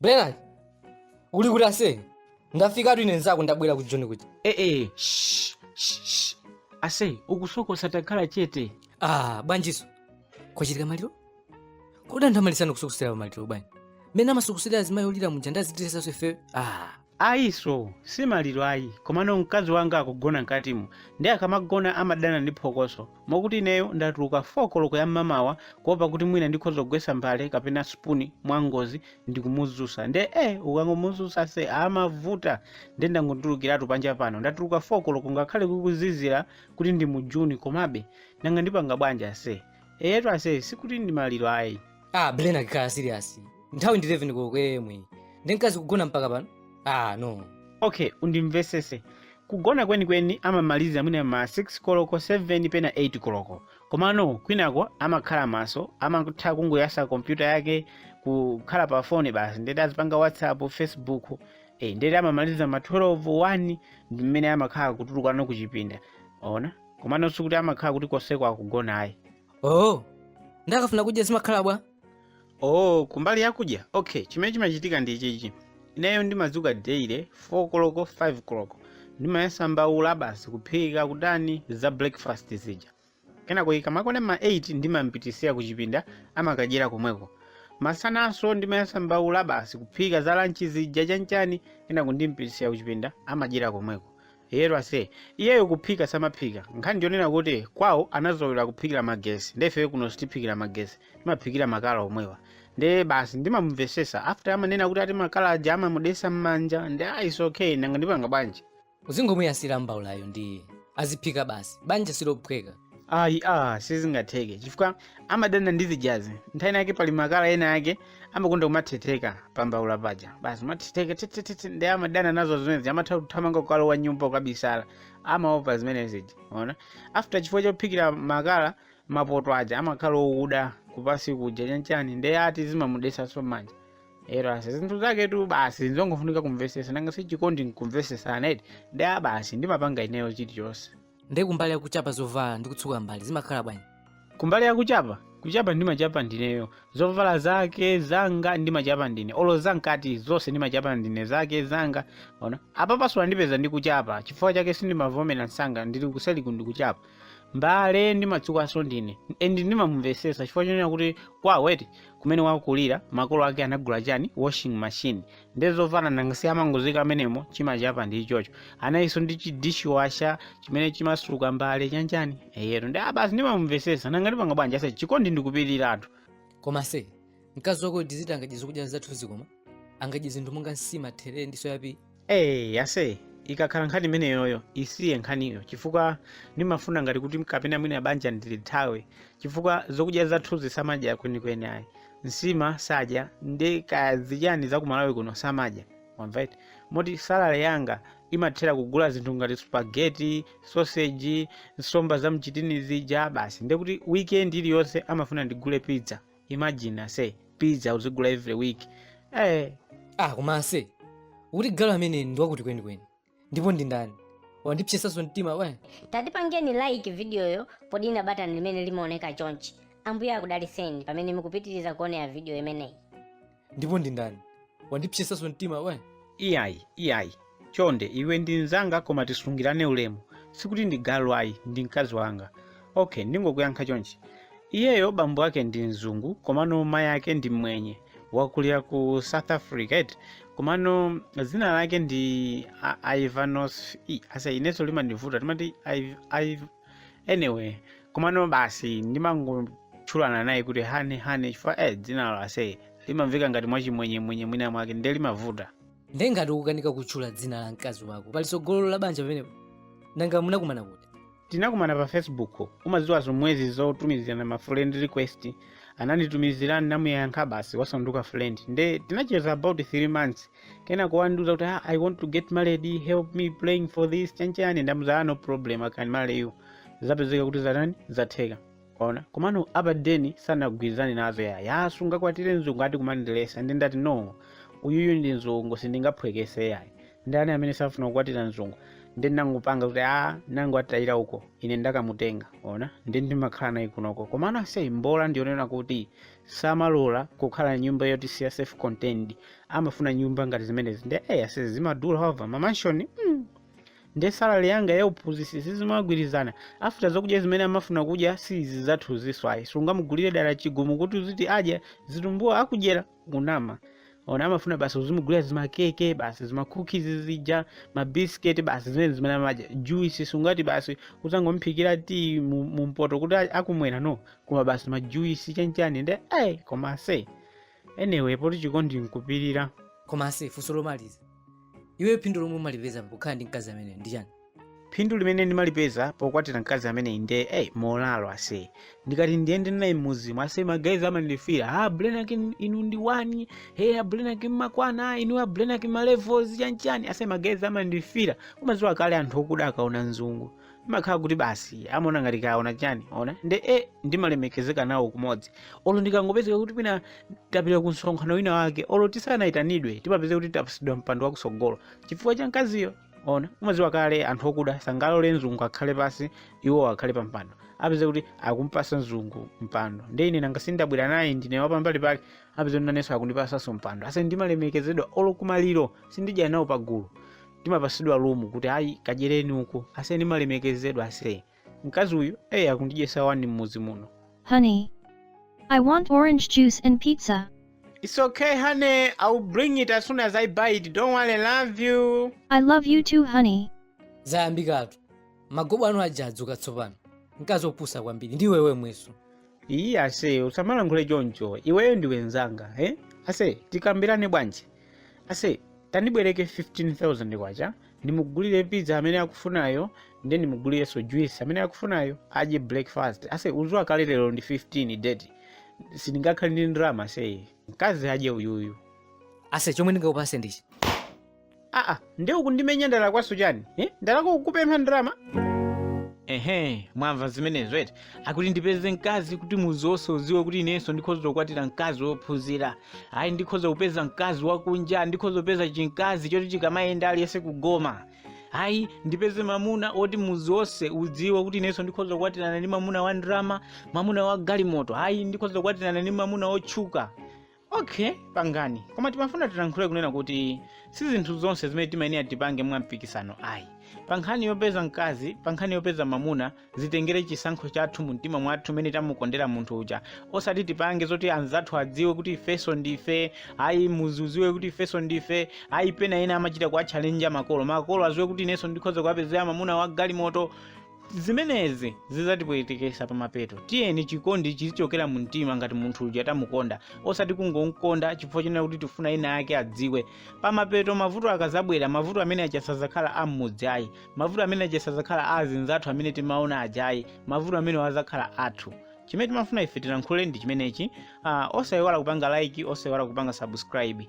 Blen, uli kuti ase? Ndafikatu ine nzako ndabwera kudzakuona. Eh eh, shh, shh, shh. Ase, ukusokosa takhala chete. Ah, bwanjiso. Kwachitika maliro? Kodi anthu amaletsana kusokosera pa maliro bwanji? Mmene amasokosera azimayi olira muja ndiye aziletsanso ifeyo? Ah, Ayi ase si maliro ayi komano mkazi wanga akugona mkatimu nde akamagona amadana ndi phokoso mokuti ineyo ndatuluka 4 koloko ya mmamawa kuopa kuti mwina ndikhoza kugwetsa mbale kapena spoon mwa ngozi ndikumuzusa nde eh ukangomuzusa ase amavuta nde ndangotulukiratu panja pano ndatuluka 4 koloko ngakhale kukuzizira kuti ndi mu June komabe nanga ndipanga bwanji ase eyetu ase sikuti ndi maliro ayi ah blen takhala serious nthawi ndi 11 koloko yemwe ndi mkazi kugona mpaka pano ah no okay undimvesese kugona kwenikweni amamaliza mwine ma 6 koloko 7 pena 8 koloko komano kwinako amakhala maso amatha kungoyasa kompyuta yake kukhala pa foni basi ndeti azipanga whatsapp facebook eh, ndeti amamaliza ma 12 1 ndi mmene amakhala kutulukana kuchipinda ona komano sikuti amakhala kuti konseko akugona ayi oh nde akafuna kudya zimakhala bwa oh kumbali yakudya okay chimene chimachitika ndi ichichi ineyo ndimadzuka daily 4 koloko 5 koloko ndimayasa mbaula basi kuphika ujeni za breakfast zija kenako ikamakwana ma 8 ndimampititsira kuchipinda amakadyera komweko masananso ndimayasa mbaula basi kuphika za lanchi zija chanchani kenako ndimampititsira kuchipinda amadyera komweko Eyetu ase. Iyeyo kuphika samaphika. Nkhani ndiyonena kuti kwawo anazolowera kuphikira magesi. Nde ifeyo kuno sitiphikira magesi. Timaphikira makala omwewa. Nde basi ndimamumvesesa. After amanena kuti ati makala aja amamudesa mmanja. Nde ah it's okay nanga ndipanga bwanji. Uzingomuyasira mbaulayo ndiye aziphika basi. Banja silophweka. ayi a sizingatheke chifukwa amadana ndi zijazi nthawi inayake pali makala ena yake amakonda kumathetheka pambaula paja basi mathetheka thethethe ndi amadana nazo zimenezi amatha kuthamanga kukalowa mnyumba kukabisala amaopa zimene zija ona after chifukwa chophikira makala mapoto aja amakhala okuda kupansi kuja chanchani ndi ati zimamudesanso mmanja eyetu ase zinthu zaketu basi nzongofunika kumvesesa nanga sichikondi nkumvesesana nde basi ndimapanga ineyo chilichonse nde kumbali yakuchapa zovala ndi kutsuka mbale zimakhala bwanji kumbali yakuchapa kuchapa ndimachapa ndineyo zovala zake zanga ndimachapa ndine olo zamkati zonse ndimachapa ndine zake zanga ona apapa so wandipeza ndikuchapa chifukwa chake sindimavomera msanga ndili kuseliku ndikuchapa mbale ndimatsukanso ndine and ndimamumvesesa chifukwa chonena kuti kwawo eti kumene wakulira makolo ake anagula chani washing machine nde zovala nanga si amangoziika mmenemo chimachapa ndi ichocho anayinso ndi chidishiwasha chimene chimatsuka mbale chanjani eyero ndi abasi ndimamumvesesa nanga ndipanga bwanji ase chikondi ndikupirira anthu koma ase mkazi wako ndiziti angadye zokudya zathu zikoma angadye zinthu monga nsima therere ndi soya pieces Hey, ase ikakhala nkhani imeneyo isiye nkhaniyo chifukwa ndimafuna ngati kuti kapena mwina banja ndilithawe chifukwa zokudya zathuzi samadya kwenikweni ayi nsima sadya nde kaya zichani za ku malawi kuno samadya wamva eti moti salary yanga imathera kugula zinthu ngati spaghetti sausage nsomba za mchitini zija basi nde kuti weekend iliyonse amafuna ndigule pizza imagine ase pizza uzigula every week eh ah koma ase ukuti galu amene ndi wakuti kwenikweni ndipo ndi ndani wandipsetsanso mtima iwe tatipangireni like vidiyoyo podina batani limene limaoneka chonchi ambuye akudaliseni pamene mukupitiriza kuonera vidiyo imeneyi ndipo ndi ndani wandipsetsanso mtima iwe iyayi iyayi chonde iwe ndi mnzanga koma tisungirane ulemu sikuti ndi galu ayi ndi mkazi wanga Ok, ndingokuyankha chonchi. Iyeyo bambo ake ndi mzungu, komano mayi ake ndi mmwenye. Wakulira ku South Africa, eti. Komano dzina lake ndi A- Ivanos... i, Ase inenso limandivuta, timati Iv... Iv... Anyway, komano basi ndimangotchulana naye kuti hani hani chifukwa eh, dzinalo ase limamveka ngati mwachimwenyemwenye mwina mwake ndiye limavuta. nde ngati ukukanika kutchula dzina la mkazi wako pali tsogolo la banja pamenepo nanga munakumana kuti tinakumana pa facebook umaziwa zomwezi zotumizirana ma friend request ananditumizira ndinamuyankha basi wasanduka friend nde tinacheza about 3 months kenako wandiuza kuti ah, i want to get married help me praying for this chanchani ndamuuza ah, no problem i can marry you zapezeka kuti zatani zatheka ona komano apa deni sanagwirizane nazo ya ya sungakwatire mzungu ati kumandiletsa nde ndati no uyuyu ndi mzungu sindingaphwekese yayi ndani amene safuna kukwatira mzungu nde ndangopanga kuti a nango atayira uko ine ndakamutenga ona nde ndimakhala naye kunoko komano aseyi mbola ndi yonena kuti samalola kukhala nyumba yoti si ya self contained amafuna nyumba ngati zimenezi nde eyi ase zi zimadula over mamanshoni mm. nde salary yanga ya uphunzitsi sizimagwirizana after zokudya zimene amafuna kudya si izi zathu izi ayi sungamugulire dala chigumu kuti uziti adya zitumbuwa akudyera kunama ona amafuna basi uzimugulira zimakeke basi zimakhukizi zija mabisiketi basi zimene zimene amadya juisi sungati basi uzangomphikira ti mu- mumpoto kuti a- akumwera no koma basi majuisi chanchani nde ai koma ase anyway poti chikondi nkupirira koma ase funso lomaliza, iwe phindu lomwe umalipeza pokhala ndi mkazi ameneyu ndi chani phindu limene ndimalipeza pokwatira mkazi ameneyi nde ey molalo ase ndikati ndiyende naye mmuzimu, ase magazi amandifira a blenaki inu ndi wani e ablenaki mmakwana inu ablenaki malevels chanchani ase magazi amandifira umaziwa kale anthu okuda akaona mzungu imakhala kuti basi amaona ngati aona chani ona nde e ndimalemekezeka nawo kumodzi olo ndikangopezeka kuti mwina tapita ku msonkhano wina wake olo tisanayitanidwe timapeza kuti tapasidwa mpando wakusogolo chifukwa cha mkaziyo ona umaziwa kale anthu okuda sangalore mzungu akhale pasi iwo akhale pa mpando apeza kuti akumpasa mzungu mpando nde ine nanga sindabwera naye ndine wapambali pake apeza kuti nanenso akundipasanso mpando ase ndimalemekezedwa olo kumaliro sindidya nawo pagulu ndimapasidwa lumu kuti ayi kadyereni uko ase ndimalemekezedwa ase mkazi uyu eyi akundidyesa wani m'mudzi muno Honey. I want orange juice and pizza. It's okay, honey. I'll bring it as soon as I buy it. Don't worry, love you. I love you too, honey. zayambikatu magobo anu aja adzuka tsopano mkazi opusa kwambiri ndi wemwenso iyayi ase usamalankhule choncho iweyo ndiwe nzanga eh? ase tikambirane bwanji ase tandibwereke 15000 kwacha ndimugulire pizza amene akufunayo nde ndimugulirenso juice amene akufunayo adye breakfast ase uziwa kale lero ndi 15 date sindingakhale ndi ndrama ase mkazi adye uyuyu ase chomwe ndingakupase ndichi aa nde ukundimenya ndalakwanso chani eh? ndalakwa kupempha ndrama ehe mwamva zimenezo eti akuti ndipeze mkazi kuti muzi wonse uziwe kuti inenso ndikhoza kukwatira mkazi wophunzira ayi ndikhoza kupeza mkazi wakunja ndikhoza kupeza chimkazi choti chikamayenda aliyense kugoma ayi ndipeze mamuna woti muzi wonse udziwe kuti inenso ndikhoza kukwatirana ndi mamuna wa ndrama mamuna wa galimoto ayi ndikhoza kukwatirana ndi mamuna wotchuka Ok, pangani. Koma timafuna tilankhule kunena kuti si zinthu zonse zimene timayenera tipange mwa mpikisano ayi. Pa nkhani yopeza mkazi, pa nkhani yopeza mamuna, zitengere chisankho chathu mu mtima mwathu umene tamukondera munthu uja. Osati tipange zoti anzathu adziwe kuti ifeso ndife, ayi muzi uziwe kuti ifeso ndife, ayi pena ena amachita kuwachallenja makolo. Makolo aziwe kuti ineso ndikhoza kuwapezera mamuna wa galimoto. zimenezi zizatipwetekesa pamapeto tiyeni chikondi chizichokera mu mtima ngati munthu uja tamukonda osati kungomkonda chifukwa chonena kuti tifuna ena ake adziwe pamapeto mavuto akazabwera mavuto amene aja sazakhala a mmudzi ayi mavuto amene aja sazakhala a azinzathu amene timaona aja ayi mavuto amenewo azakhala athu chimene timafuna ife tilankhule ndi chimenechi uh, osayiwala kupanga like osayiwala kupanga subscribe